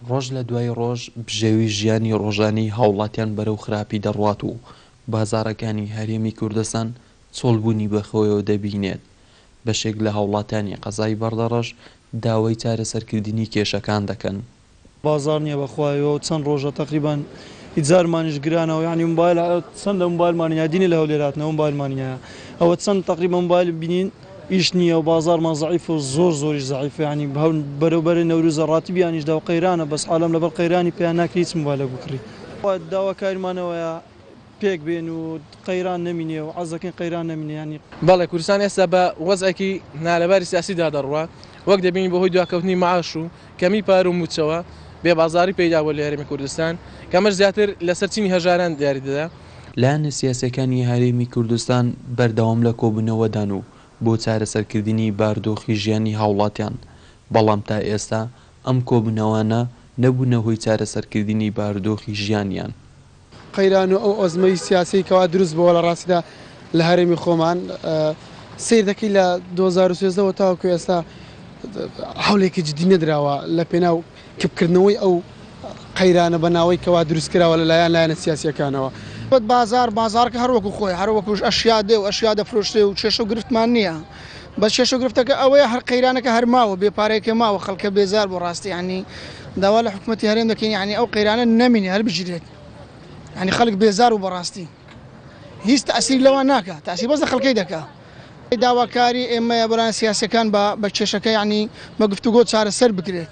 ڕۆژ لە دوای ڕۆژ بژێوی ژیانی ڕۆژانەی هاوڵاتیان بەرەو خراپی دەڕوات و بازاڕەکانی هەرێمی کوردستان چۆڵبوونی بەخۆیەوە دەبینێت، بەشێک لە هاوڵاتیانی قەزای بەردەڕەش داوای چارەسەرکردنی کێشەکان دەکەن. بازار نیە بەخوایەوە چەن ڕۆژە تەقریبەن ئیجارمانیش گرانەوە یانی موبایل چەندە موبایلمانی هەیە دینی لە هەولێر هاتنەوە موبایلمانی هەیە ئەوە چەند تەقریبەن موبایل بینین ئیش نیە و بازارمان زەعیف و زۆر زۆریش زەعیف یانی هەول بەرەوبەرەی نەوروزە ڕاتبیانیش داو قەیرانە بەس عالەم لەبەر قەیرانی پیا ناکری هیچ موبایلەک بکڕی داواکاریمان ئەوەیە پێک بێن و قەیران نەمینێ و عەرز دەکەین قەیران نەمینێ یانی. بەڵێ کوردستان ئێستا بە وەزعێکی نالەباری سیاسی دا دەڕوا وەک دەبینین بەهۆی دواکەوتنی معاش و کەمی پار و مووچەوە بێ بازاری پەیدا بووە لە هەرێمی کوردستان کە ئەمەش زیاتر لە سەر چینی هەژاران دیاری دەدا. لایەنە سیاسیەکانی هەرێمی کوردستان بەردەوام لە کۆبوونەوە دان و بۆ چارەسەر کردنی باردۆخی ژیانی هاوڵاتیان بەڵام تا ئێستا ئەم کۆبوونەوانە نەبوونە هۆی چارەسەر کردنی باردۆخی ژیانیان. قەیران و ئەو ئەزمەی سیاسیەی کەوا دروست بۆوە لە ڕاستیدا لە هەرێمی خۆمان سیر دەکەی لە دوو هەزار و سێزدە وە تاوەکو ئێستا حولێکی جدی نەدراوە لە پێناو کپکردنەوەی ئەو قەیرانە بە ناوەی کەوا دروست کراوە لە لایەن لایەنە سیاسیەکانەوە. بازار بازارکە هەر وەکو خۆی هەر وەکوش ئەشیا دێ و ئەشیا دەفرۆشرێ و کێشە و گرفتمان نیە. بەس کێشەو گرفتەکە ئەوەیە هەر قەیرانەکە هەر ماوە بێ پارەیەکە ماوە خەڵکە بێزار بوو ڕاستی یانی داوا لە حکومەتی هەرێم دەکەین یانی ئەو قەیرانە نەمینێ هەر بگیرێت یانی خەڵک بێزار و بەڕاستی هیچ تاسیری لەوان ناکە تاسی بەس لە خەڵکەی دەکە داواکاری ئێمەیە بەلایەن سیاسەکان بە بە کێشەکە یانی بە گفتوگۆ چارەسەر بکرێت.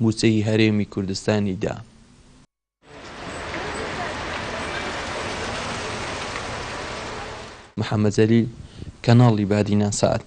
مووچەی هەرێمی کوردستانی دا. محەمەد جەلیل، کەناڵی بادینان سەعد.